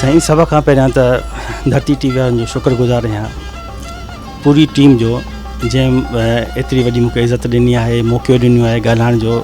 سائين سڀ کان پهريان ته ڌرتي ٽي وي وارن جو شڪر گذار آهيان پوري ٽيم جو جنهن ايتري وڏي مونکي عزت ڏني آهي موقعو ڏنو آهي ڳالهائڻ جو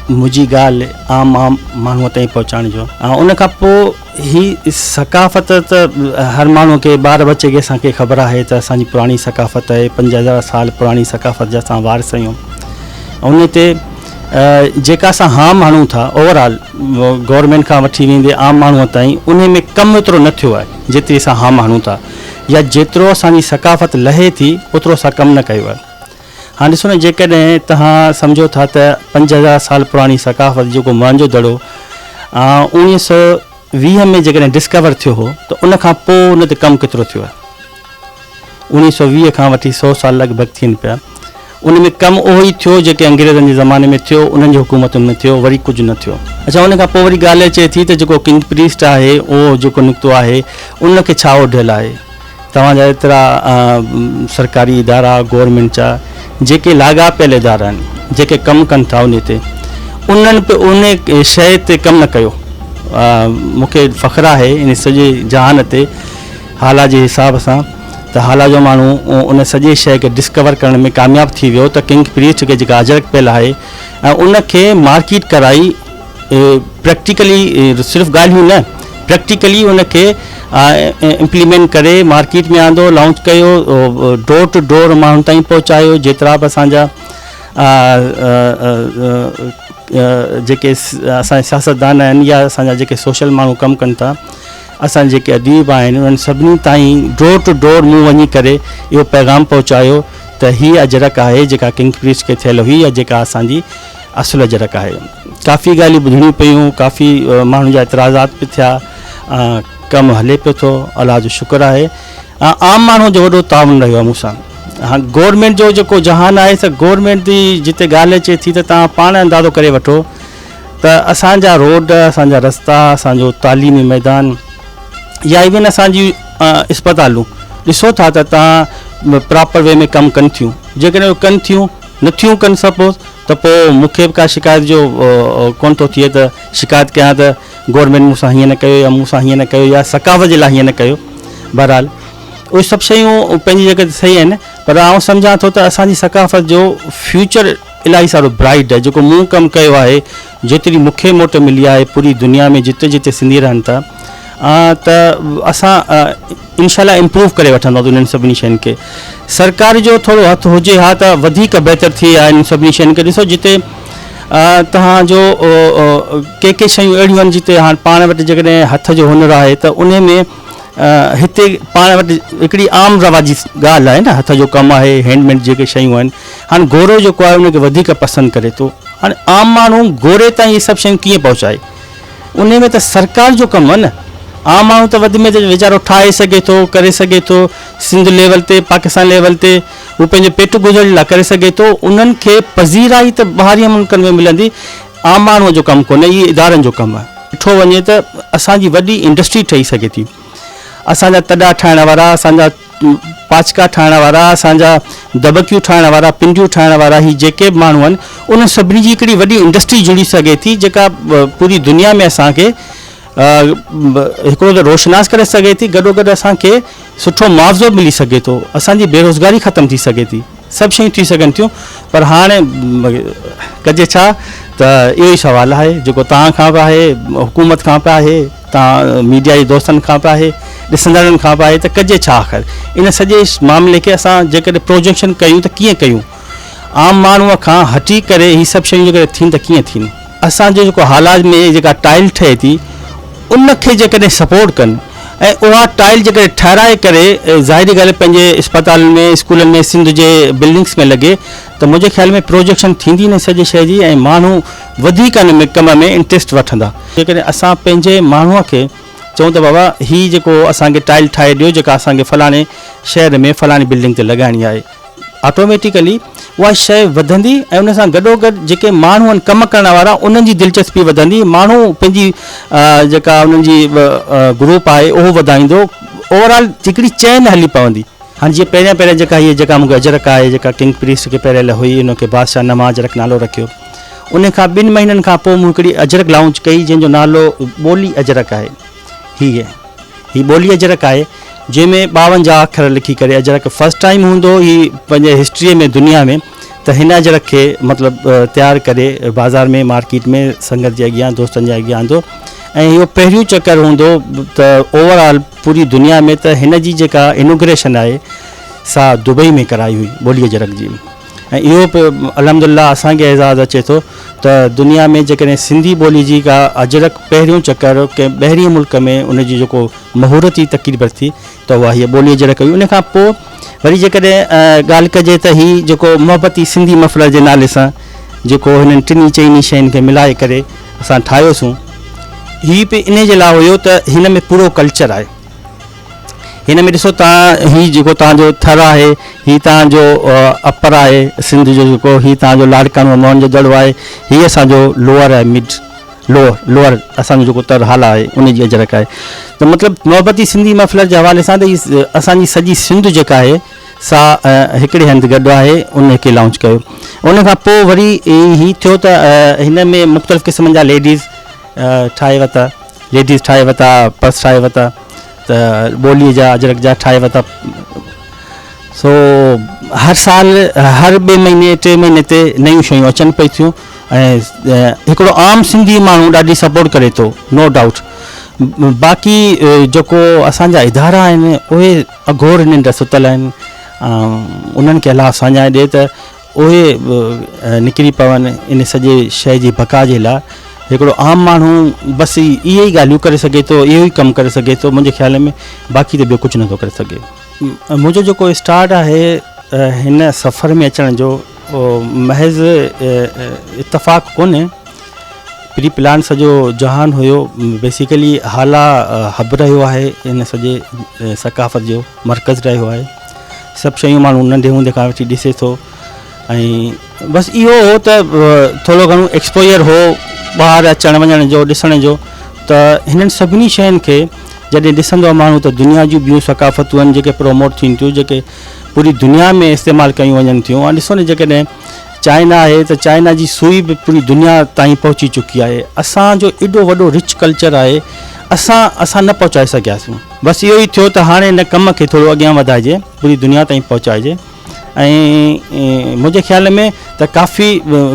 منهنجي ڳالهه عام عام ماڻهو تائين پهچائڻ جو ان کان پوء هي ثقافت ته هر ماڻهو کي ٻار بچي کي اسان کي خبر آهي ته اسان جي پراڻي ثقافت آهي پنج هزار سال پراڻي ثقافت جا اسان وارث آهيون ان تي جيڪا اسان هام هڻون ٿا اوور آل گورنمينٽ کان وٺي ويندي عام ماڻهو تائين انهي ۾ ڪم ايترو نه ٿيو آهي جيتري اسان هام هڻون ٿا يا جيترو اسان جي ثقافت لهي ٿي اوترو اسان ڪم نه ڪيو آهي. هاڻ ڏسو نه جيڪڏهن توهان سمجهو ٿا ته پنج هزار سال پراڻي ثقافت جيڪو موهنجو دڙو اوڻيهه سؤ ويهه ۾ جيڪڏهن ڊسڪور ٿيو هو ته ان کان پوء ان تي ڪم ڪيترو ٿيو آهي اوڻيهه سؤ ويهه کان وٺي سؤ سال لڳ ڀڳ ٿين پيا. ان ۾ ڪم اهو ئي ٿيو جيڪي انگريزن جي زماني ۾ ٿيو، انهن جي حڪومتن ۾ ٿيو، وري ڪجهه نه ٿيو. اڇا ان کان پوء وري ڳالهه اچي ٿي ته جيڪو ڪنگ پريسٽ آهي اهو جيڪو نڪتو آهي ان کي ڇا اوڍيل آهي؟ توهان جا ايترا سرڪاري ادارا، گورنمينٽ جا جيڪي لاڳاپيل ادارا آهن، جيڪي ڪم ڪن ٿا انهي تي، انهن به انهي شيء تي ڪم نه ڪيو. مون کي فخر آهي انهي سڄي جهان تي. هالا جي حساب سان ته هالا جو ماڻهو ان سڄي شيء کي ڊسڪور ڪرڻ ۾ ڪامياب ٿي ويو ته ڪنگ پريسٽ کي جيڪا اجرڪ پيل آهي ۽ ان کي مارڪيٽ ڪرائي پريڪٽيڪلي صرف ڳالهيون نه پريڪٽيڪلي ان کي امپليمينٽ ڪري مارڪيٽ ۾ آندو لانچ ڪيو ڊور ٽو ڊور ماڻهن تائين پهچايو جيترا به اسان جا جيڪي اسان جا سياستدان آهن يا اسان جا جيڪي سوشل ماڻهو ڪم ڪن ٿا اسان جيڪي اديب آهن انهن سڀني تائين ڊور ٽو ڊور مون وڃي ڪري اهو پيغام پهچايو ته هي اجرڪ آهي جيڪا ڪنگ پريس کي ٿيل هئي يا جيڪا اسان جي اصل اجرڪ آهي. ڪافي ڳالهيون ٻڌڻيون پيون، ڪافي ماڻهن جا اعتراضات به ٿيا، ڪم هلي پيو ٿو الله جو شڪر آهي، عام ماڻهو جو وڏو تعاون رهيو آهي مون سان، گورنمينٽ جو جيڪو جهان آهي سا گورنمينٽ جي جتي ڳالهه اچي ٿي ته توهان پاڻ اندازو ڪري وٺو ته اسان جا روڊ، اسان جا رستا، اسان جو تعليمي ميدان يا ايون اسان جي اسپتالون ڏسو ٿا ته تان پراپر وي ۾ ڪم ڪن ٿيون جيڪڏهن اهو ڪن ٿيون نه ٿيون ڪن سپوز ته پوء مون کي به ڪا شڪايت جو ڪون ٿو ٿئي ته شڪايت ڪيان ته گورنمينٽ مون سان هيئن نه ڪيو يا مون سان هيئن نه ڪيو يا ثقافت جي لاء هيئن نه ڪيو بهرحال اهي سڀ شيون پنهنجي جڳھ تي صحيح آهن پر آئون سمجهان ٿو ته اسان جي ثقافت جو فيوچر الاهي سارو برائيڊ آهي جيڪو مون ڪم ڪيو آهي جيتري مونکي موٽ ملي آهي پوري دنيا ۾ جتي جتي سنڌي رهن ٿا ته اسان انشاء الله امپروو ڪري وٺنداسين انهن سڀني شين کي سرڪار جو ٿورو هٿ هجي ها ته وڌيڪ بهتر ٿئي ها انهن سڀني شين کي ڏسو جتي توهان جو ڪي ڪي شيون اهڙيون آهن جتي هاڻ پاڻ وٽ جيڪڏهن هٿ جو هنر آهي ته ان ۾ هتي پاڻ وٽ هڪڙي عام رواجي ڳالهه آهي نه هٿ جو ڪم آهي هينڊميڊ جيڪي شيون آهن هاڻي گورو جيڪو آهي ان کي وڌيڪ پسند ڪري ٿو هاڻي عام ماڻهو گوري تائين اهي سڀ شيون ڪيئن پهچائي ان ۾ ته سرڪار جو ڪم آهي نه عام ماڻهو ته وڌ ۾ ويچارو ٺاهي سگهي ٿو ڪري سگهي ٿو سنڌ ليول تي پاڪستان ليول تي هو پنهنجو پيٽ گذر لاء ڪري سگهي ٿو انهن کي پذيرائي ته ٻاهرين ملڪن ۾ ملندي عام ماڻهو جو ڪم ڪونهي اهي ادارن جو ڪم آهي ڏٺو وڃي ته اسان جي وڏي انڊسٽري ٺهي سگهي ٿي اسان جا تڏا ٺاهڻ وارا اسان جا پاچڪا ٺاهڻ وارا، اسان جا دٻڪيون ٺاهڻ وارا، پنڊيون ٺاهڻ وارا هي جيڪي به ماڻهو آهن انهن سڀني جي هڪڙي وڏي انڊسٽري جڙي سگهي ٿي جيڪا پوري دنيا ۾ اسان کي هڪڙو ته روشناس ڪري سگهي ٿي گڏوگڏ اسان کي سٺو معاوضو ملي سگهي ٿو اسان جي بيروزگاري ختم ٿي سگهي ٿي. سڀ شيون ٿي سگهن ٿيون پر هاڻي ڪجي ڇا ته اهو ئي سوال آهي جيڪو توهان کان به آهي حڪومت کان به آهي توهان ميڊيا جي دوستن کان به آهي ڏسندڙن کان به آهي ته ڪجي ڇا آخر ان سڄي معاملي کي اسان جيڪڏهن پروجيڪشن ڪيون ته ڪيئن ڪيون عام ماڻهو کان هٽي ڪري هي سڀ شيون جيڪڏهن ٿين ته ڪيئن ٿين اسان جو جيڪو هالاج ۾ جيڪا ٽائل ٺهي ٿي ان کي جيڪڏهن سپورٽ ڪن ۽ اها ٽائل جيڪڏهن ٺهرائي ڪري ظاهري ڳالهه پنهنجي اسپتالن ۾ اسڪولن ۾ سنڌ جي بلڊنگس ۾ لڳي ته منهنجي خيال ۾ پروجيڪشن ٿيندي نه سڄي شهر جي ۽ ماڻهو وڌيڪ ان ۾ ڪم ۾ انٽريسٽ وٺندا. جيڪڏهن اسان پنهنجي ماڻهو کي چئون ته بابا هي جيڪو اسان کي ٽائل ٺاهي ڏيو جيڪا اسان کي فلاڻي شهر ۾ فلاڻي بلڊنگ تي لڳائڻي آهي. آٽوميٽيڪلي اها شيء وڌندي ۽ ان سان گڏوگڏ جيڪي ماڻهو آهن ڪم ڪرڻ وارا انهن جي دلچسپي وڌندي ماڻهو پنهنجي جيڪا انهن جي گروپ آهي اهو وڌائيندو اوورآل هڪڙي چين هلي پوندي. هاڻ جيئن پهريان پهريان جيڪا هيء جيڪا مون کي اجرڪ آهي جيڪا ڪنگ پريسٽ کي پهريل هئي ان کي بادشاهه نما اجرڪ نالو رکيو ان کان ٻن مهينن کان پوء مون هڪڙي اجرڪ لائونچ ڪئي جنهن جو نالو ٻولي اجرڪ آهي هيء هي ٻولي اجرڪ آهي جنهن ۾ ٻاونجاهه اکر لکي ڪري اجرڪ فرسٽ ٽائيم هوندو هي پنهنجي هسٽري ۾ دنيا ۾ ته هن اجرڪ کي مطلب تيار ڪري بازار ۾ مارڪيٽ ۾ سنگت جي اڳيان دوستن جي اڳيان آندو ۽ اهو پهريون چڪر هوندو ته اوور آل پوري دنيا ۾ ته هن جي جيڪا انوگريشن آهي سا دبئي ۾ ڪرائي هئي ٻولي اجرڪ جي ۽ اهو به الحمدالله اسان کي اعزاز اچي ٿو ته دنيا ۾ جيڪڏهن سنڌي ٻولي جي ڪا اجرڪ پهريون چڪر ڪنهن ٻهرين ملڪ ۾ ان جي جيڪو مهورتي تقرير ورتي ته اها هيء ٻولي اجرڪ هئي ان کان پوء وري جيڪڏهن ڳالهه ڪجي ته هي جيڪو محبتي سنڌي مفرد جي نالي سان جيڪو هنن ٽنهي چئني شين کي ملائي ڪري اسان ٺاهيوسون هي به انهي جي لاء هيو ته هن ۾ پورو ڪلچر آهي. هن ۾ ڏسو ته هي جيڪو توهان جو ٿر آهي هي توهان جو اپر آهي سنڌ جو جيڪو هي توهان جو لاڙڪاڻو ۽ موهن جو دڙو آهي هي اسان جو لوئر آهي مڊ لوئر لوئر اسان جو جيڪو تر حال آهي ان جي اجرڪ آهي ته مطلب محبتي سنڌي مفلر جي حوالي سان ته هي اسان جي سڄي سنڌ جيڪا آهي سا هڪڙي هنڌ گڏ آهي ان کي لانچ ڪيو ان کان پوء وري هي ٿيو ته هن ۾ مختلف قسمن جا ليڊيز ٺاهي ورتا ليڊيز ٺاهي ورتا پرس ٺاهي ورتا ته ٻوليء جا اجرڪ جا ٺاهي ورتا. سو هر سال هر ٻئي مهيني ٽي مهيني تي نيون شيون اچن پئي ٿيون ۽ هڪڙو عام سنڌي ماڻهو ڏاڍي سپورٽ ڪري ٿو نو ڊائوٽ باقي جيڪو اسان جا ادارا آهن اهي اگهور ننڊ ستل آهن انهن کي الله ساڃاهه ڏي ته اهي به نڪري پون ان سڄي شيء جي بقا جي لاء. هڪڙو عام ماڻهو بس اهي ئي ڳالهيون ڪري سگهي ٿو، اهو ئي ڪم ڪري سگهي ٿو منهنجي خيال ۾ باقي ته ٻيو ڪجهه نٿو ڪري سگهي. منهنجو جيڪو اسٽارٽ آهي هن سفر ۾ اچڻ جو اهو محض اتفاق ڪونهي، پري پلان سڄو جهان هيو، بيسيڪلي هالا هب رهيو آهي ان سڄي ثقافت جو مرڪز رهيو آهي. سڀ شيون ماڻهو ننڍي هوندي کان وٺي ڏسي ٿو ۽ بس اهو هو ته ٿورو گهڻو ايڪسپوجر هو ٻاهر اچڻ وڃڻ جو ڏسڻ جو ته هنن سڀني شين کي جڏهن ڏسندو آهي ماڻهو ته دنيا جون ٻيون ثقافتون آهن جيڪي پروموٽ ٿين ٿيون جيڪي پوري دنيا ۾ استعمال ڪيون وڃن ٿيون هاڻ ڏسو نه جيڪڏهن چائنا آهي ته چائنا جي سوئي به پوري دنيا تائين پهچي چڪي آهي اسان جو ايڏو وڏو رچ ڪلچر آهي اسان اسان نه پهچائي سگهياسون بس اهو ئي ٿيو ته هاڻي هن ڪم کي ٿورو اڳيان وڌائجي پوري دنيا تائين پهچائجي ۽ منهنجي خيال ۾ ته ڪافي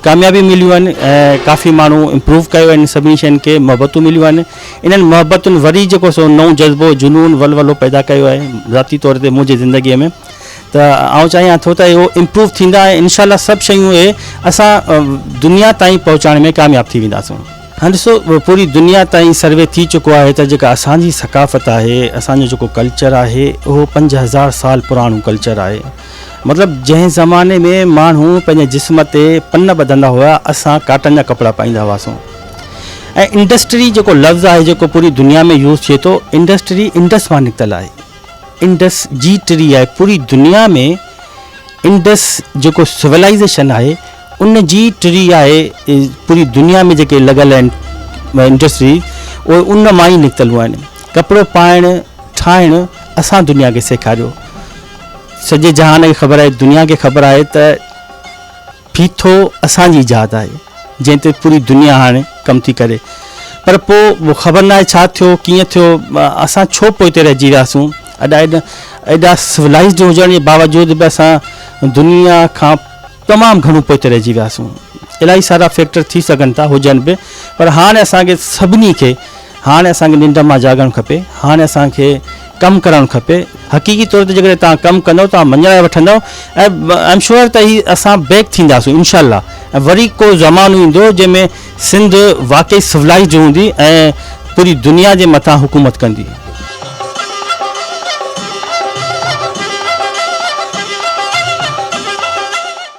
ڪاميابي مليون آهن ۽ ڪافي ماڻهو امپروو ڪيو آهن سڀني شين کي محبتون مليون آهن انهن محبتن وري جيڪو سو نئون جذبو جنون ولولو پيدا ڪيو آهي ذاتي طور تي منهنجي زندگي ۾ ته آئون چاهيان ٿو ته اهو امپروو ٿيندا ۽ انشاء الله سڀ شيون اهي اسان دنيا تائين پهچائڻ ۾ ڪامياب ٿي وينداسون. هاڻي ڏسو پوري دنيا تائين سروي ٿي چڪو آهي ته جيڪا اسان جي ثقافت آهي اسان جو جيڪو ڪلچر آهي اهو پنج هزار سال پراڻو ڪلچر آهي مطلب جنهن زماني ۾ ماڻهو پنهنجي جسم تي پن ٻڌندا هيا اسان ڪاٽن جا ڪپڙا پائيندا هئاسون ۽ انڊسٽري جيڪو لفظ آهي جيڪو پوري دنيا ۾ يوز ٿئي ٿو انڊسٽري انڊس مان نڪتل آهي انڊس جي ٽري آهي پوري دنيا ۾ انڊس جيڪو سولائزيشن آهي ان جي ٽري آهي پوري دنيا ۾ جيڪي لڳل آهن انڊسٽري اهي ان مان ئي نڪتل آهن ڪپڙو پائڻ ٺاهڻ اسان دنيا کي سيکاريو سڄي جهان کي خبر آهي دنيا کي خبر آهي ته ڦيٿو اسان جي ايجاد آهي جنهن تي پوري دنيا هاڻي ڪم ٿي ڪري پر پو خبر ناهي ڇا ٿيو ڪيئن ٿيو اسان ڇو پوئتي رهجي وياسون ادا ايڏا سولائزڊ هجڻ جي باوجود به اسان دنيا کان تمام گهڻو پوئتي رهجي وياسون. الاهي سارا فيڪٽر ٿي سگهن ٿا هجن به پر هاڻي اسان کي سڀني کي هاڻي اسان کي ننڊ مان جاڳڻ کپي هاڻي اسان کي ڪم ڪرڻ کپي حقيقي طور تي جيڪڏهن توهان ڪم ڪندو توهان مڃرائي وٺندو ۽ ايم شور ته هي اسان بيڪ ٿينداسون انشاء الله ۽ وري ڪو زمانو ايندو جنهن ۾ سنڌ واقعي سولائيزڊ هوندي ۽ پوري دنيا جي مٿان حڪومت ڪندي.